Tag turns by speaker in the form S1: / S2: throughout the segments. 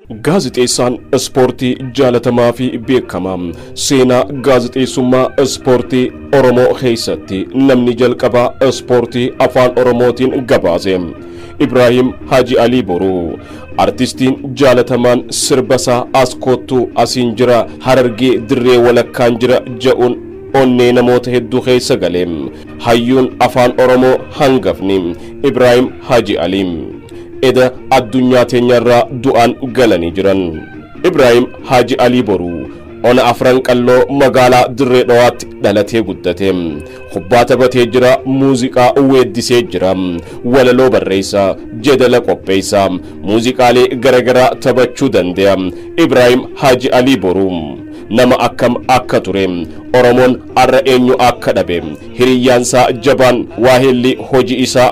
S1: Gaazexeessaan ispoortii jaalatamaa fi beekamaa seenaa gaazexeessummaa ispoortii Oromoo keessatti namni jalqabaa ispoortii afaan Oromootiin gabaase Ibraahim Haji Alii Boruu artistiin jaalatamaan sirbasaa as koottuu asiin jira harargee dirree walakkaan jira ja'uun onnee namoota hedduu keessa gale hayyuun afaan Oromoo hangafni Ibraahim Haji Alii. Eda addunyaa teenyarraa du'aan galanii jiran. Ibraahim Haaji Alii Boruu ona Afran Qalloo magaalaa Dirree Dhawaatti dhalatee guddate. Kubbaa taphatee jira, muuziqaa weeddisee jira, walaloo barreessa, jedala qopheessa, muuziqaalee garagaraa taphachuu dande'a. Ibraahim Haaji Alii Boruu nama akkam akka ture, Oromoon har'a eenyu akka dhabe, hiriyyaansaa jabaan waaheelli hojii isaa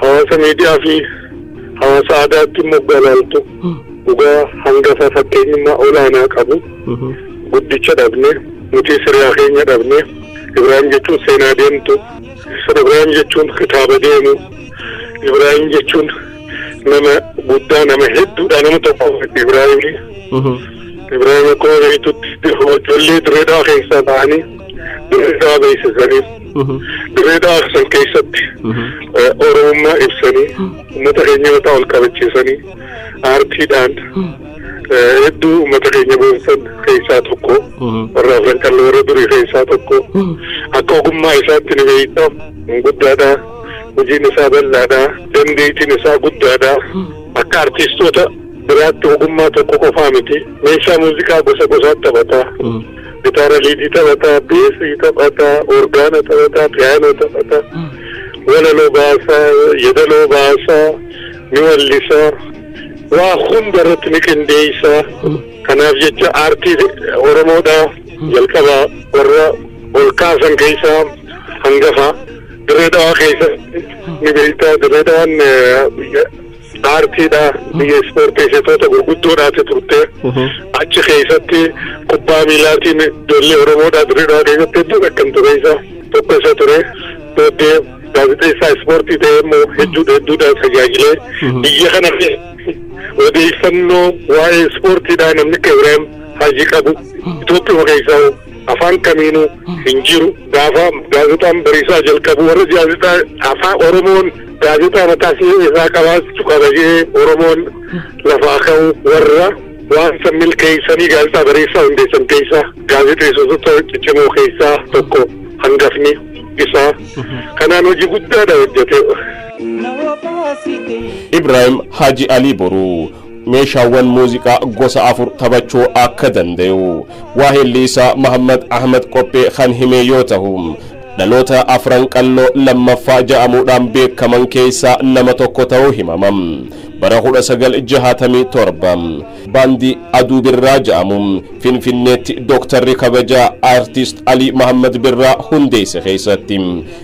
S2: hawaasa miidiyaa fi hawaasa aadaatti immoo galaaltu dhugaa hangafa fakkeenyummaa olaanaa qabu guddicha dhabne nuti siriyaa keenya dhabne ibraahim jechuun seenaa deemtu ibraahim jechuun kitaaba deemu ibraahim jechuun nama guddaa nama hedduudha nama tokko ibraahim ibraahim akkuma beektutti ijoollee direedaa keessaa ta'anii direedaa beeksisanii Dirree Dhawaa san keessatti Oromummaa ibsanii uummata keenya mataa ol qabachiisanii aartiidhaan hedduu uummata keenya boonsan keessaa tokko warra afran qallee warra durii keessaa tokko akka ogummaa isaatti ni beekta guddaadha hojiin isaa bal'aadha dandeettiin isaa guddaadha akka artiistoota biraatti ogummaa tokko qofaa miti meeshaa muuziqaa gosa gosaatti taphata. gitaara liidii taphataa, beesii taphataa, orgaana taphataa, piyaanoo taphataa, walaloo baasaa, yeedaloo baasaa, ni wallisaa, waa hunda irratti ni qindeessaa. Kanaaf jecha aartii Oromoodhaa jalqaba warra ol kaasan keessaa hangafa. Dirree Dhawaa keessa ni beektaa. Dirree Dhawaan Baartiidha. Biyya ispoorteessitoota gurguddoodhaati turte. Achi keessatti kubbaa miilaatiin ijoollee Oromoodhaa Dirreedhaa keessatti hedduu beekamtu keessa tokko isa ture. Booddee gaazexeessaa ispoortii ta'ee immoo hedduudha hedduudhaan tajaajilee biyya kana odeeffannoo waa'ee ispoortiidhaa namni akka Ibraahim Hajii qabu Itoophiyaa keessaa afaan kamiinuu hin jiru. Gaafa gaazexaan bariisaa jalqabu warra gaazexaa afaan Oromoon gaazexaa mataa isaa qabaachuu qaba jedhee Oromoon lafaa ka'u warra waan san milkeessanii gaazexaa bariisaa hundeessan keessaa gaazexeessitoota ciccimoo keessaa tokko hangafni isaa kanaan hojii guddaadha hojjete.
S1: Ibrahim Haji Ali Boru meeshaawwan muuziqaa gosa afur taphachuu akka dandayu waaheelli isaa Mahammad Ahmad Qophee kan himee yoo tahu dhaloota afran qalloo lammaffaa ja'amuudhaan beekaman keessaa nama tokko ta'uu himama. Bara 1967 baandii Aduu Birraa ja'amu Finfinneetti Dooktarri kabajaa Aartist Alii Mahammad Birraa hundeesse keessatti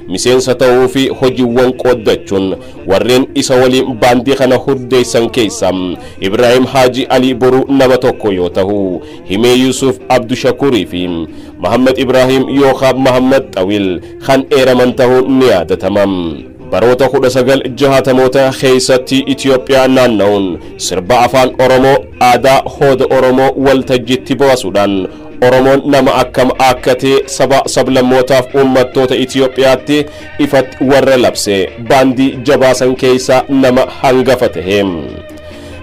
S1: miseensa ta'uu fi hojiiwwan qooddachuun Warreen isa waliin baandii kana hurdeessan keessa Ibraahim Haaji Alii Boruu nama tokko yoo tahu, Himee Yuusuf Abdushakuurii fi Mahammad Ibraahim yookaa Mahammad Xawil kan eeraman tahuun ni yaadatama. Baroota 1960moota keessatti Itoophiyaa naanna'uun sirba afaan Oromoo aadaa hooda Oromoo waltajjiitti baasuudhaan Oromoon nama akkam akka ta'e saba sablammootaaf uummattoota Itoophiyaatti ifatti warra labse baandii jabaa san keessa nama hangafa tahe.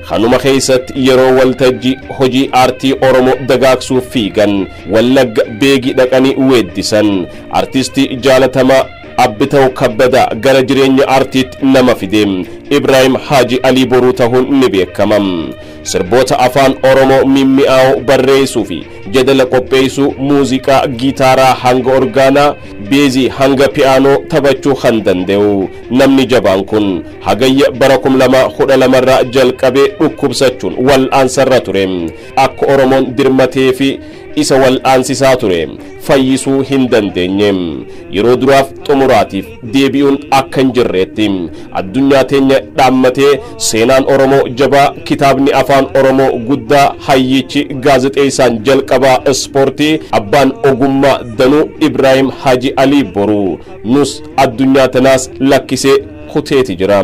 S1: Kanuma keessatti yeroo waltajjii hojii aartii Oromoo dagaagsuuf fiigan Wallagga beegii dhaqanii weeddisan artistii jaalatamaa Abbitaw Kabbadaa gara jireenya aartiitti nama fide Ibraahim Haaji Alii Boruu tahuun ni beekama. Sirboota Afaan Oromoo mimmi'aawoo barreessuu fi jedala qopheessuu, muuziqaa gitaaraa hanga orgaanaa, beezii hanga piyaanoo taphachuu kan danda'u namni jabaan kun, Hagayya bara 2012 irraa jalqabee dhukkubsachuun wal'aansarra ture. Akka Oromoon dirmatee fi isa wal'aansisaa ture fayyisuu hin dandeenye. Yeroo duraaf xumuraatiif. deebi'uun akka hin jirreetti addunyaa teenya dhaammatee seenaan Oromoo jabaa kitaabni afaan Oromoo guddaa hayyichi gaazexeessaan jalqabaa ispoortii abbaan ogummaa danuu Ibraahim Haji Alii Boruu nus addunyaa tanaas lakkisee kuteeti jira.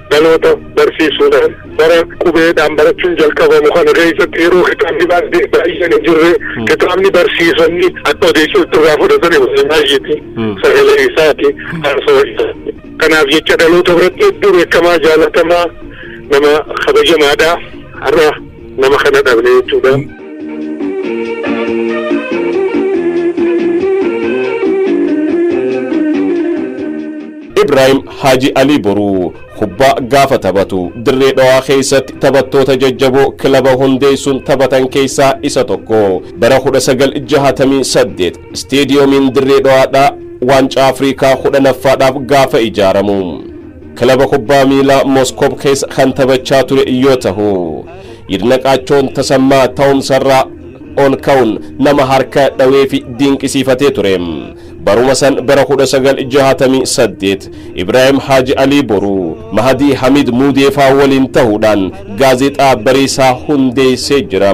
S2: Dhaloota barsiisuudhaan bara qubeedhaan barachuun jalqabamu kana keessatti yeroo kitaabni baay'ee baay'een hin jirre kitaabni barsiisonni akka odeessuutti irraa fudhatani baay'eeti sagalee isaati haasawaa isaati. Kanaaf jecha dhaloota biratti hedduu beekamaa jaalatamaa nama kabajamaadha har'a. nama kana dhabne jechuudha.
S1: Ibraahim Haaji Alii Boruu kubbaa gaafa taphatu dirree dhawaa keessatti taphattoota jajjaboo kilaba hundeessuun taphatan keessaa isa tokko bara 1968 isteediyoomiin dirree dhawaadhaa waancaa Afrikaa 10ffaadhaaf gaafa ijaaramu. Kilaba kubbaa miilaa Moskoob keessa kan taphachaa ture yoo tahu, Yidnaqaachoon Tasammaa ta'umsarraa ol ka'uun nama harka dhawee fi dinqisiifatee ture. Baruma san bara 1968 Ibraahim Haaji Alii Boruu, Mahadii Hamiid Muudeefaa waliin tahuudhaan Gaazexaa Bariisaa hundeessee jira.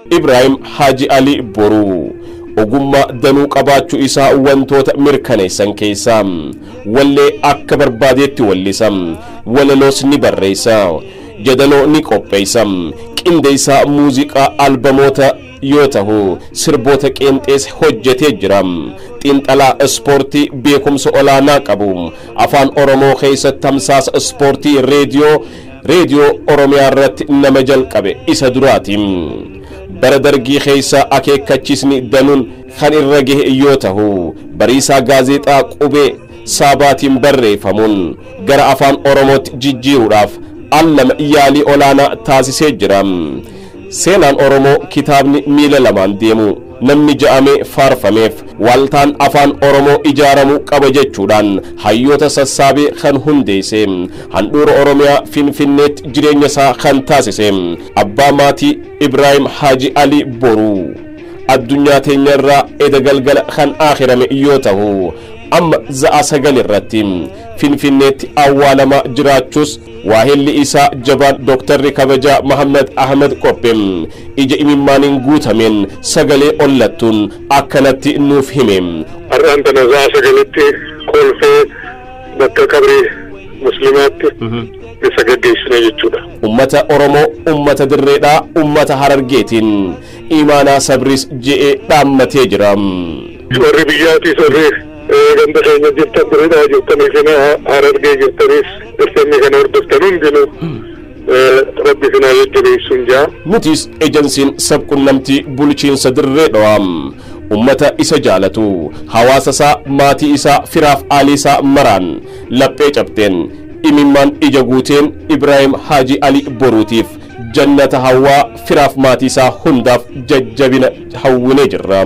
S1: Ibraahim Haaji Ali Boruu ogummaa danuu qabaachuu isaa wantoota mirkaneessan keessaa wallee akka barbaadeetti wallisa, walaloos ni barreessa, yadaloo ni qopheessa, qindeessaa muuziqaa albamoota yoo tahu sirboota qeenxees hojjetee jira. Xiinxalaa ispoortii beekumsa olaanaa qabu afaan Oromoo keessatti tamsaasa ispoortii reediyoo Reediyoo Oromiyaa irratti nama jalqabe isa duraati. Bara Dargii keessa akeekkachiisni danuun kan irra gahe yoo tahu, Bariisaa Gaazeexaa qubee Saabaatiin barreeffamuun gara Afaan Oromootti jijjiiruudhaaf al lama yaalii olaanaa taasisee jira. Seenaan Oromoo kitaabni miila lamaan deemu namni ja'amee faarfameef waaltaan afaan Oromoo ijaaramuu qaba jechuudhaan hayyoota sassaabee kan hundeesse handhuura Oromiyaa Finfinneetti jireenya isaa kan taasise abbaa maatii Ibraahim Haaji Alii Boruu addunyaa teenya irraa eda galgala kan aakhirame yoo tahu amma za'a sagal irratti Finfinneetti awwaalamaa jiraachuus Waahilli isaa jabaan Doktarri kabajaa Mahaammad Ahmad Qoppe ija imimmaaniin guutameen sagalee ollattuun akkanatti nuuf hime. Har'aan tana
S2: sa'a sagalitti kolfee bakka qabri muslimaatti isa gaggeessina jechuudha. Ummata Oromoo,
S1: ummata dirreedhaa, ummata Harargeetiin imaanaa sabriis je'ee dhaammatee jira. Warri
S2: biyyaatiis warri Ganda keenya jirtan Dirredhawa jirtanii fi Harargee jirtanis dirqamni kana hordoftan hundinuu rabbi isin haa jajjabeessuun jaa. Nutis ejansiin
S1: sabqunnamtii bulchiinsa Dirree Dhawaa ummata isa jaalatu, hawaasa isaa, maatii isaa, firaaf aalii isaa maraan laphee cabteen, imimmaan ija guuteen Ibraahim Haaji Ali Boruutiif jannata hawwaa firaaf maatii isaa hundaaf jajjabina hawwinee jirra.